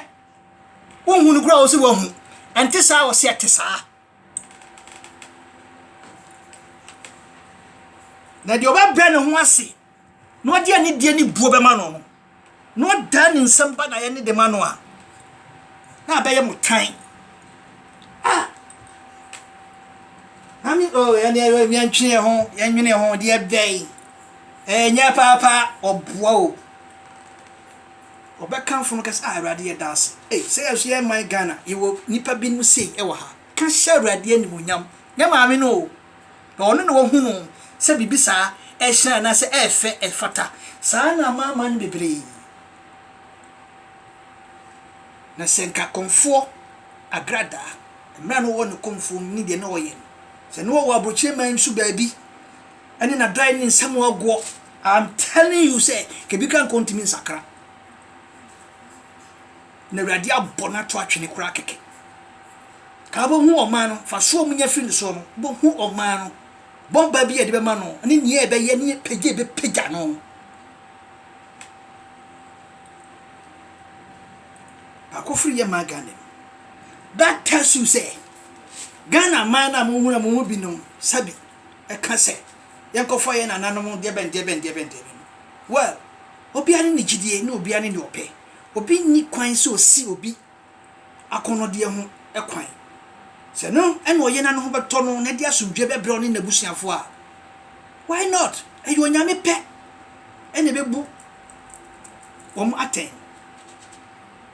Wonhu no koraa ɔse wahu. Ɛnte saa ɔse ɛte saa. Na deɛ ɔbɛbrɛ ne ho ase na ɔde anidie ne buo bɛma no no, na ɔdan ne nsam ba n'ayɛ ne de ma no a, na abɛyɛ mo tan. Ah! Ami o oh, ɛne ɛyɛ yɛntwene ho yɛnwene ho deɛ bɛyi ɛnyɛ paapa ɔboa o ɔbɛkamfo no kɛsɛ a ah, awurade yɛ daase ei sɛ yɛso yɛ man ghana yɛwɔ nnipa binom sei ɛwɔ ha ka hyɛ awurade animonyam nyɛ maame no o na ɔno na wahunu sɛ biribi saa ɛhyerɛn anaasɛ ɛyɛ fɛ, ɛfata. Saa ara na amanaman bebree yi, na sɛ nka Komfoɔ Agradaa, mmerɛ a na ɔwɔ ne Komfoɔ mu ne deɛ na ɔyɛ no, sɛ na ɔwɔ Abokyire man mu so baabi, ɛne n'adɔeɛ ne nsɛm agoɔ, I'm telling you sɛ, nka ebi koraa nka ɔntumi nsakra. Na Awurade abɔ no ato atwene koraa kɛkɛ. Ka wobɛhu ɔman no, fa soɔ mu nya firi ne soɔ no, wobɛhu ɔman no, bɔ mpae bi a yɛde bɛma no, ne nea ɛbɛyɛ, ne apagya a ɛbɛpagya no. Baako firi yɛ maa Ghana mu. That tells you sɛ, Ghana man no a mohunu a mo mu binom sabi ɛka sɛ, yɛnkɔfa yɛn nananom deɛbɛn deɛbɛn deɛbɛn deɛbɛn no. Well, obiara ne ne gyidie, ne obiara ne deɛ ɔpɛ. obi nni kwan sɛ ɔsi obi akɔnnɔdeɛ ho kwan. Sɛ ɛno na ɔyɛ na ne ho bɛtɔ no na ɛde asomdwoeɛ bɛbrɛ ɔne n'abusuafoɔ a, why not? Ɛyɛ Onyame pɛ na ɛbɛbu wɔn atɛn.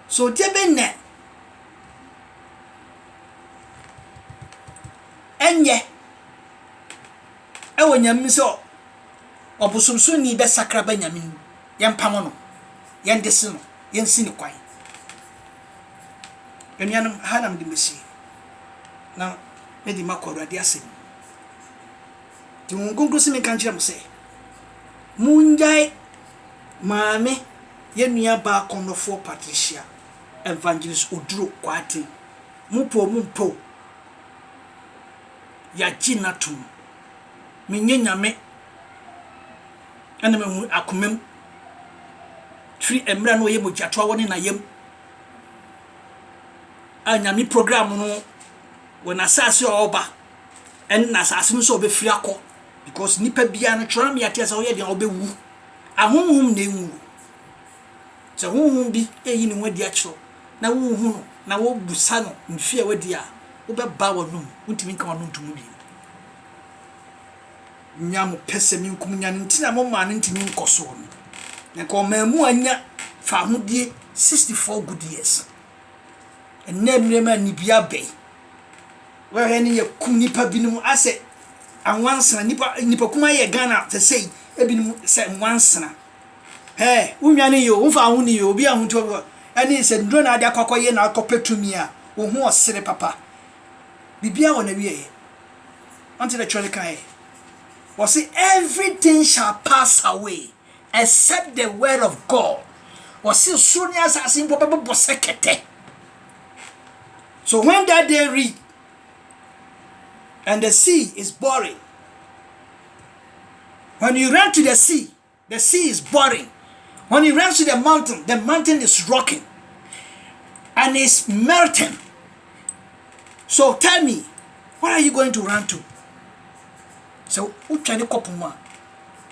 So deɛ bɛn na ɛnyɛ ɛwɔ Nyame mu sɛ Ɔbosomsonni bɛsakra aba Nyame no mu, yɛmpamo no, yɛndese no, yɛnsi no kwan. Anuanom, ha na mede masie, na mede makɔ Awurade asɛm mu. Nti Honhom Kronkron se menka nkyerɛ mo sɛ, mongyae Maame yɛn nuabaa kɔnnɔfoɔ Patricia Evangelist Oduro Kwarteng, mopɛ o mompɛ o, yɛagye no atom. menyɛ Nyame na mahu akomam firi mmerɛ na ɔyɛ mogyatoa wɔ ne na yam a Nyame program no wɔ n'asase a ɔba ɛne n'asase no sɛ ɔbɛfiri akɔ because nipa biara no twerɛ me ateɛ sɛ ɔyɛ deɛ ɔbɛwu ahonhom na ɛnwu sɛ honhom bi ɛyi ne ho adi akyerɛ na wohu no na wobusa no mfeɛ wadi a wobɛba wɔnom wontumi nka wɔno ntomu bi nya mo pɛsɛmenkominya no nti na momaa no ntumi nkɔsoo no. Na nka ɔmaa mu anya fahodie 64 good years. Ɛnnɛ mmerɛ mu a nibia abɛn. Wɛhwɛ ne yɛkum nipa binom asɛ anwansena nipa nipa kuma yɛ Ghana te sei ebinom sɛ nwansena. Hɛɛ wonwa ne yɛ o wofa ho ne yɛ obi a ho nti ɔbɔ ɛne sɛ nnuro na ade akɔ akɔyɛ na akɔpɛ tumi a wo ho ɔsere papa. Biribiara wɔ n'awieɛ. Wonte dɛ twerɛ no kae? Wɔse everything shall pass away except the word of God. Wɔse soro ne asase mpo bɛbobɔ sɛ kɛtɛ. So when that day read and the sea is boring, when you run to the sea, The sea is boiling, when he runs to the mountain, the mountain is rocking and is melting. So tell me, what are you going to run to? So wotwa ne kɔpo mu a,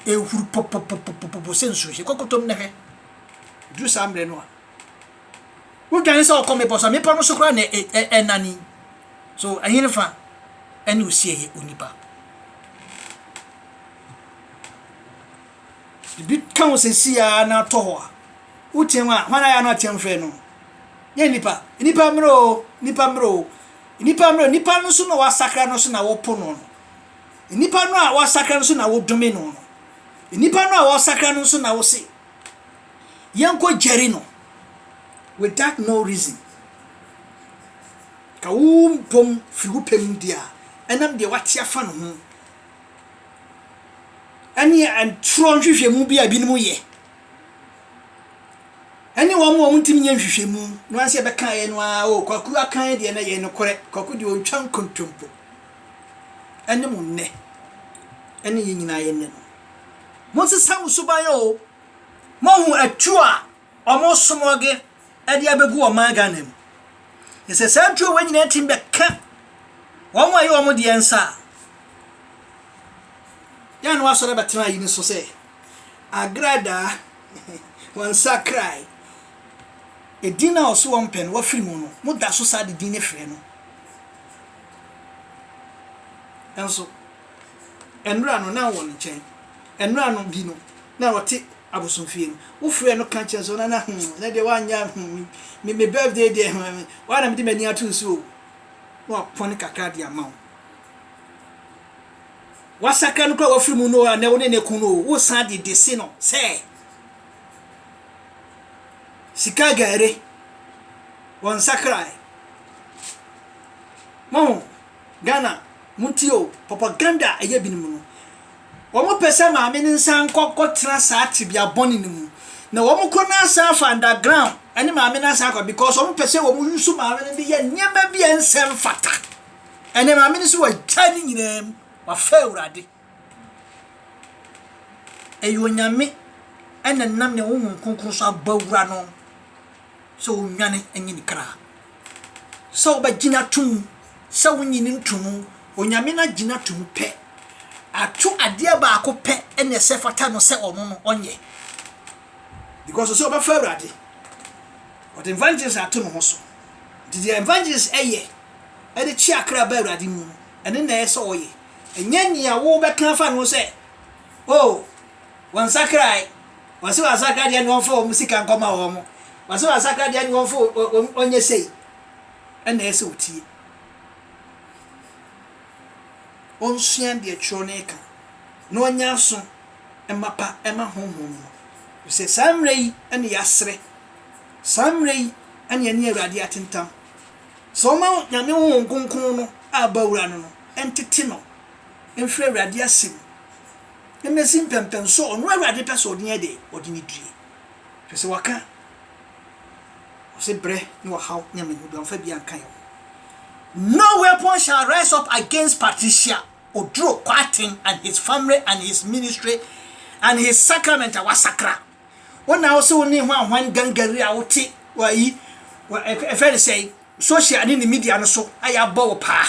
ɛhuru pɔpɔpɔpɔpɔ sɛ nsuo hyɛ kɔkɔtɔm na hwɛ. Duru saa mmerɛ no a, wodwane sɛ ɔkɔ mmepɔ so a, mmepɔ no so koraa na ɛnane. So ɛhene fa ɛne osie yɛ onipa. ebi ka wo sɛsi a na atɔ hɔ a woteɛ mu a hwan ayɛ no ateɛ mfrɛ no yɛ nnipa nnipa mmerɛ o nnipa mmerɛ o nnipa mmerɛ nnipa no so na wasakra no so na wopo no no nnipa no a wasakra no so na wodome no no nnipa no a wasakra no so na wose yɛnkɔ gyari no without no reason ka wo mpom firi wo pɛ mu deɛ a ɛnam deɛ wate afa no ho ɛne atorɔ nhwehwɛmu bi a binom yɛ, ɛne wɔn a wɔntumi nyɛ nhwehwɛmu no ara sɛ ɛbɛkaeɛ no ara o kwaku akan deɛ no ɛyɛ nokorɛ kwaku deɛ ɔntwa nkontompo ɛne mo nnɛ ɛne yɛn nyinaa yɛ nnɛ no monsesa mo suban o moahu atuo a Ɔmo smɔge ɛde abegu ɔman Ghana mu. Na sɛ saa tuo wei nyinaa tumi bɛka wɔn a ɛyɛ wɔn deɛ nsa a, yɛn na wasɔre abɛtena ayi no so sɛ agradaa wɔn sakrae. Edin no a ɔso wɔn pɛ no wafiri mu no, mo da so saa de din no frɛ no. Nanso. Nnora no, na ɔwɔ no nkyɛn. Nnora no bi no, na ɔte abosomfie no. Wofrɛɛ no ka kyerɛɛ sɛ ɔno na hmm, na deɛ woanyɛ hmm, me, me birthday deɛ hmm, woa na mede m'ani ato wo so o. Na wapɔne kakra de ama wo. Wasakra no koraa wafiri mu no a, na wo ne ne ko no o, wosan de de se no sɛ sika gari, wɔnsakrae. Mohu? Ghana montie o, propaganda a ɛyɛ binom no, wɔn pɛ sɛ maame no nsa nkɔ nkɔ tena saa tebea bɔne no mu, na wɔn kɔ na asan afa under ground ɛne maame no asan akɔ because wɔn pɛ sɛ wɔn use maame no de yɛ nneɛma bi a ɛnsɛ mfata, ɛnɛ maame no sɛ wagyae ne nyinaa mu, wafa awurade. Ɛyɛ Onyame na ɛnam ne Honhom Kronkron so abɔ awura no sɛ ɔnwane nye ne kra, sɛ wobɛgye no ato mu, sɛ wonye no nto mu. Onyame no agye no ato mu pɛ. Ato adeɛ baako pɛ na ɛsɛ fata no sɛ ɔno no ɔnyɛ. Because ɔsɛ ɔbɛfa Awurade. Ɔde evangelist ato ne ho so. Nti deɛ evangelist ɛyɛ ɛde kye akra ba Awurade mu no, ɛno na ɛyɛ sɛ ɔyɛ. Ɛnyɛ nea wobɛka afa ne ho sɛ, Oh, wɔnsakrae, wɔse wɔasakra deɛ ɛne wɔmfa wɔn sika nkɔma wɔn, wɔse wɔasakra deɛ ɛne wɔmfa wɔn ɔnyɛ sei, ɛna ɛsɛ wotie. Ɔnsua deɛ twerɛ no reka, na ɔnyɛ aso mma pa ɛma honhom no, efisɛ saa mmerɛ yi ɛne yɛasrɛ, saa mmerɛ yi ɛne yɛne Awurade atentam. Sɛ ɔma Nyame Honhom Kronkron no a ɔba wura no no ntete no mfiri Awurade ase mu mmɛsi mpɛmpɛn sɔ ɔno Awurade pɛ sɛ ɔde yɛ dɛ, ɔde no die. Hwɛ sɛ waka ɔse brɛ ne ɔhaw ne amanehunu bi wamfa biaa nka yɛ ho. No weapon shall rise up against Patricia Oduro Kwarteng and his family and his ministry and his sacrament a wasakra. Wo na wo se wo ne hwan hwan gangari a wo te wɔ ayi, wɔ ɛ, ɛfɛ ne sɛn, social ne ne media no so ayɛ abɔ wo paa.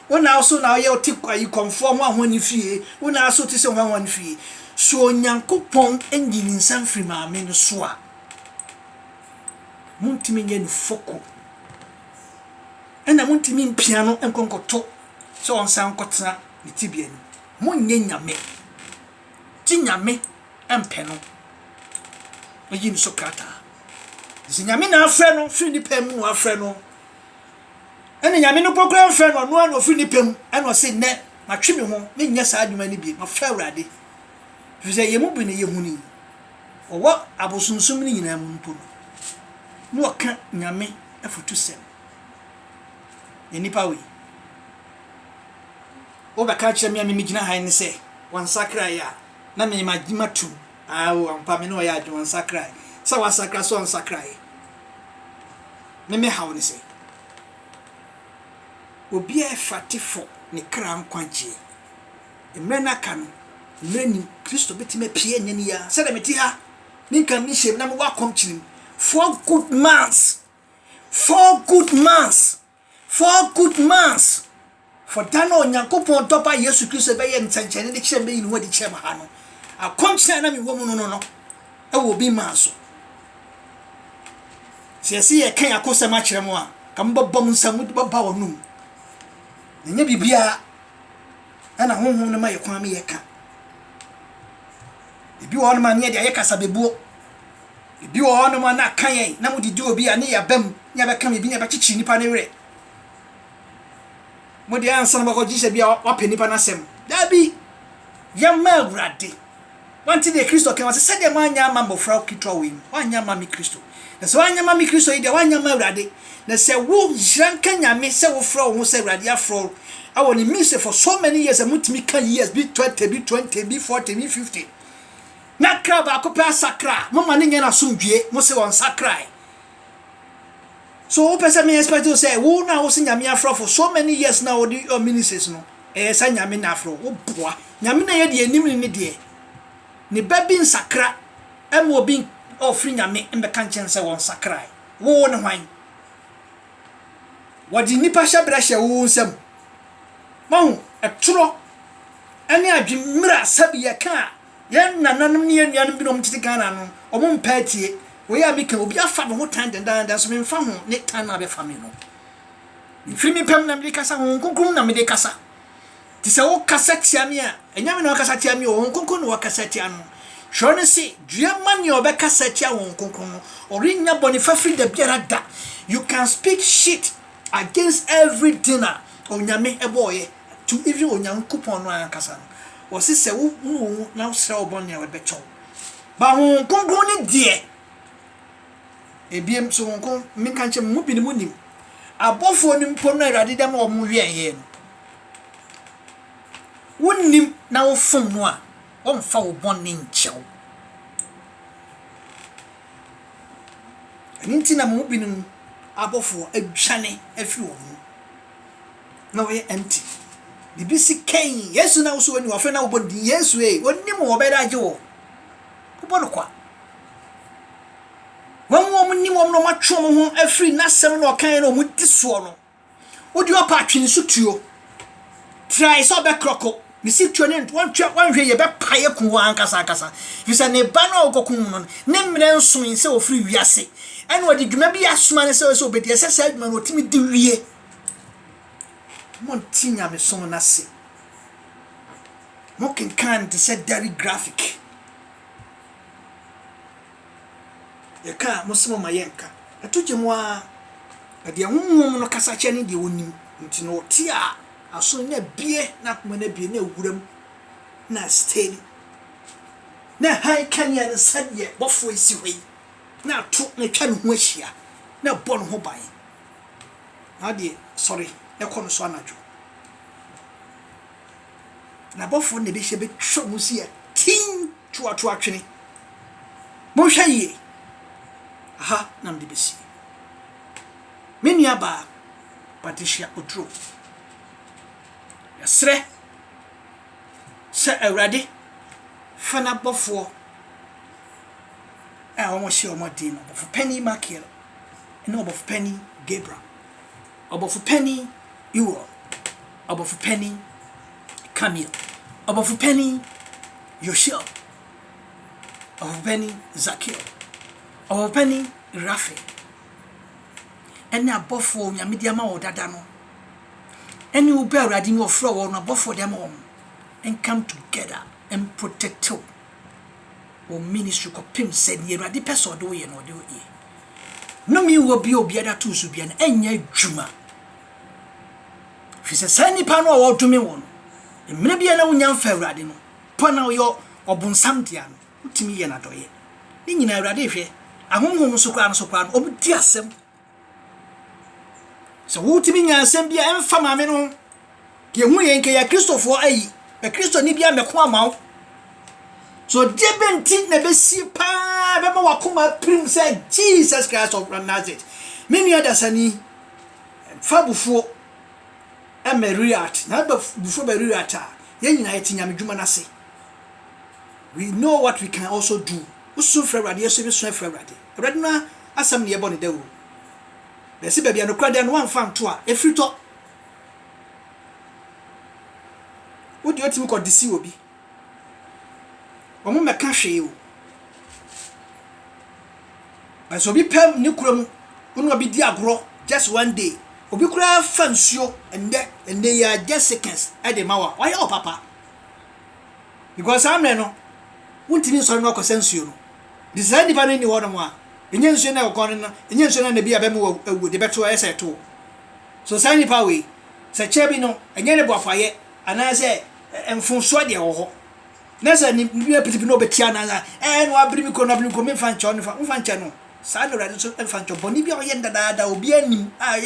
Wo na wo se wo na woyɛ wo te ayi kɔmfoɔ hwan hwan ne fie, wo na wo se wo te sɛ hwan hwan ne fie. So Onyankopɔn nyi ne nsa mfiri maame no so a, montumi nyɛ no foko. Ɛna montumi mpia no nkɔ nkɔto sɛ ɔnsan nkɔtena ne tebea no mu. Monyɛ nyame. gye Nyame mpɛ no eyi no so krataa. Sɛ Nyame na afrɛ no firi ne pɛ mu na wafrɛ no, ɛna Nyame no pokora mfrɛ no, ɔno a na ɔfiri ne pɛ mu, ɛna ɔse nnɛ matwe me ho, menyɛ saa adwuma no bie, mafrɛ Awurade. Firi sɛ yɛn mu bi no yɛhu no yi, ɔwɔ abosonsom no nyinaa mu mpo no, na ɔka Nyame afutusɛm. Yɛn nipa wei. Wobɛka akyerɛ me a me megyina ha yi ne sɛ, Wansakraeɛ a, na me magye matom. Ao, ampa me ne wo yɛ adwene, wansakraeɛ. Sɛ wasakra, sɛ ɔnsakraeɛ. Me me haw ne sɛ, obi a ɛfate fɔ ne kra nkwagyeɛ. Mmerɛ no aka no, mmerɛ nim, Kristo bɛtumi apue ɛnnɛ ne yi ara. Sɛdeɛ mete ha, me nka me nhyiam na mewɔ akɔm kyirim. Four good months, four good months. Four good months for da no a Onyankopɔn Dɔ Ba Yesu Kristo bɛyɛɛ nsɛnkyerɛnne de kyerɛɛ me bɛyii ne ho adi kyerɛɛ me ha no, akɔmkyene a na mewɔ mu no no no, ɛwɔ obi maa so. Sɛ yɛse yɛka yɛn akosɛm akyerɛ mo a, ka mobɛbɔ mo nsam mode bɛba wɔn nom. Ɛnyɛ biribiara ɛna honhom no ma yɛ kwan ma yɛka. Ebi wɔ hɔ no ma ne yɛde ayɛ kasabebuo. Ebi wɔ hɔnom a na aka yɛn na mode di obi a ne yɛ abam ne abɛka biribi ne abɛkyekye nipa no werɛ. Mode ansa na mobɛkɔ gyesɛ bi a wapɛ nipa no asɛm. Dabi! Yɛma Awurade. Wante deɛ Kristo kae, ɔse, Sɛdeɛ moanyɛ amma mmɔfra nketewa wei no, woanyɛ amma me Kristo. Na sɛ woanyɛ amma me Kristo yi deɛ, woanyɛ amma Awurade. Na sɛ wo, nhyira nka Nyame sɛ wofrɛ wo ho sɛ Awurade yɛafrɛ wo wɔ ne mise for so many years a motumi ka years bi thirty bi twenty bi forty bi fifty. Na kra baako pɛ asakra a, momma no nyɛ no asomdwoeɛ. Mose ɔnsakraeɛ. So wopɛ sɛ me expect wo sɛ wo na wose Nyame afrɔfo so many years na wode your ministries no ɛyɛ sɛ Nyame na afrɛ wo? Woboa. Nyame na ɛyɛ deɛ ɛnim ne ne deɛ. Ne ba bi nsakra ɛma obi ɔfiri Nyame mbɛka nkyɛn no sɛ wɔnsakrae. Wo wo ne hwan? Wɔde nnipa hyɛbrɛ hyɛ wo wo nsam. Wahu? Ɛtorɔ ɛne adwemmrɛ a sɛbi yɛka a Yɛn nananom ne yɛn nuanom binom a wɔtete Ghana no, wɔmpɛ atie. Wei a meka yi, obi afa me ho tan dendaada, nso memfa ho ne tan no a wabefa me no. Mifiri me pɛ mu na mede kasa, Honhom Kronkron mu na mede kasa. Enti sɛ wokasa tia me a, ɛnyɛ me na wɔkasa tia me o, Honhom Kronkron na wɔkasa tia no. Twerɛ no se, dua ma nea ɔbɛkasa tia Honhom Kronkron no, ɔrennya bɔne fafiri da biara da. You can speak shit against every thing a Onyame bɔɔeɛ. To even Onyankopɔn no ankasa no, wɔse sɛ wo hu wo ho na wo srɛ wo bɔne a ɔbɛkyɛ wo. Ba Honhom Kronkron no deɛ, ebiem so Honhom Kronkron, menka nkyɛ mo mu binom mo nim, abɔfoɔ no mpo no a Awurade de ama wɔn wɛɛyɛɛ no, wo nim na wo fom no a, wɔmfa wo bɔne nkyɛ wo. Ɛno nti na mo mu binom abɔfoɔ adwane afiri wɔn mu. na ɔyɛ empty biribi si kɛn yesu na woso ɔni ɔfɛ na wobɔ din yesu ee ɔni mu ɔbɛda agye wɔ wobɔ no kwa wɔn mu wɔn nim wɔn na wɔn atwe wɔn ho afiri n'asɛm na ɔkan na wɔn di soɔ no wodi ɔpa atwe ne so tuo tirae sɛ ɔbɛkorɔko ne si tuo ne wɔntwe wɔnhwɛ yɛ bɛpa yɛ kun wɔn ankasa ankasa fi sɛ ne ba no a wɔkɔkum mu no ne mmerɛ nson sɛ ɔfiri wiase ɛna ɔde dwuma bi asoma ne sɛ ɔsɛ ɔbɛdi ɛsɛ sɛ adwuma no ɔtumi di wie Monte nyamesom no ase. Mokenkan no te sɛ dairy graphic. Yɛka a, mose moma yɛnka. Ɛto gye mo ara. Na deɛ honhom no kasa kyɛ ne deɛ ɔnim. Nti na ɔte a aso na abie, na akoma no abie, na awuram, na steady. Na hann kanea no sɛdeɛ bɔfoɔ yi si hɔ yi, na ato na atwa ne ho ahyia, na ɛbɔ ne ho ban. Na ɔdeɛ sɔre na kɔ no so anadwo. N'abɔfoɔ no na ɛbɛhyia bɛtwa mu si atin toatoa twene. Monhwɛ yie, aha na mede bɛsie. Me nuabaa Patricia Oduro, yɛsrɛ sɛ Awurade fa n'abɔfoɔ a wɔhyɛ wɔn den no, ɔbɔfo panin Makiel ne ɔbɔfo panyin Gabriel, ɔbɔfo panyin Uriel, ɔbɔfo panyin Kamiel, ɔbɔfo panyin Yosiel, ɔbɔfo panyin Zakiel, ɔbɔfo panyin Rafael, ɛne abɔfo a Onyame de ama wɔ dada no, ɛne wo bɛ Awurade ne ɔfrɛ wɔn no abɔfo de ama wɔn, come together and protect you. Wo ministry kɔpem sɛ nea Awurade pɛ sɛ ɔde wo yɛ no ɔde wo yɛ. Nnome nni hɔ bia obiara de ato so bia no ɛnyɛ adwuma. Ɛfiri sɛ saa nnipa no a wɔdome wɔ no, mmerɛ bi a na wonya mfa Awurade no, po na ɔyɛ ɔbonsam dea no, wotumi yɛ no adɔeɛ. Ne nyinaa Awurade hwɛ, ahonhom so koraa no so koraa no, wɔdi asɛm Sɛ wotumi nya asɛm bi a ɛmfa maame no ho, deɛ ɛhu yɛ nka yɛ Kristofoɔ ayi, bɛ Kristoni bi amɛko ama wo. So deɛ bɛ nti na ɛbɛsi paa bɛma wakoma apirim sɛ Jesus Christ of Nazareth. Me nua dasani, fa bufuo ɛmɛ react. Na bɛ bufuo bɛ react a, yɛn nyinaa yɛte nyame dwuma no ase. We know what we can also do. Wosu frɛ Awurade, yɛso yɛbɛsu afrɛ Awurade. Awurade no asɛm na yɛbɔ no dawuru, na ɛsi baabi a nokorɛ da no, woamfa anto a, ɛfiritɔ. Wo deɛ wotumi kɔ disi obi, wɔmmɛka hwee o. But sɛ obi pɛ ne kura mu, wo ne obi di agorɔ, just one day, obi koraa fa nsuo ɛndɛ, ɛndɛ yi ara, just seconds, ɛde ma wo a, wayɛ wo papa. Because saa mmerɛ no, wontumi nsɔre na wakɔsa nsuo no. De saa nipa no nni hɔ nom a, ɛnyɛ nsuo na ɛkɔkɔɔ no no, ɛnyɛ nsuo no na bi a ɛbɛma wawu, de bɛto ayɛ sɛ ɛtoo. So saa nipa wei, sɛ kyɛ bi no, ɛnyɛ ne boafayɛ anaasɛ mfomsoɔ deɛ ɛwɔ hɔ. Na sɛ ne bi apiti bi na ɔbɛtia no ansa, ɛɛ na wabiri me kuro no, wabiri me kuro no, memfa nkyɛ wo, memfa nkyɛ no. Saa na Awurade nso mfa nkyɛ wo. Bɔne bi a ɔyɛ no dadaada a obiara nnim a ɛyɛ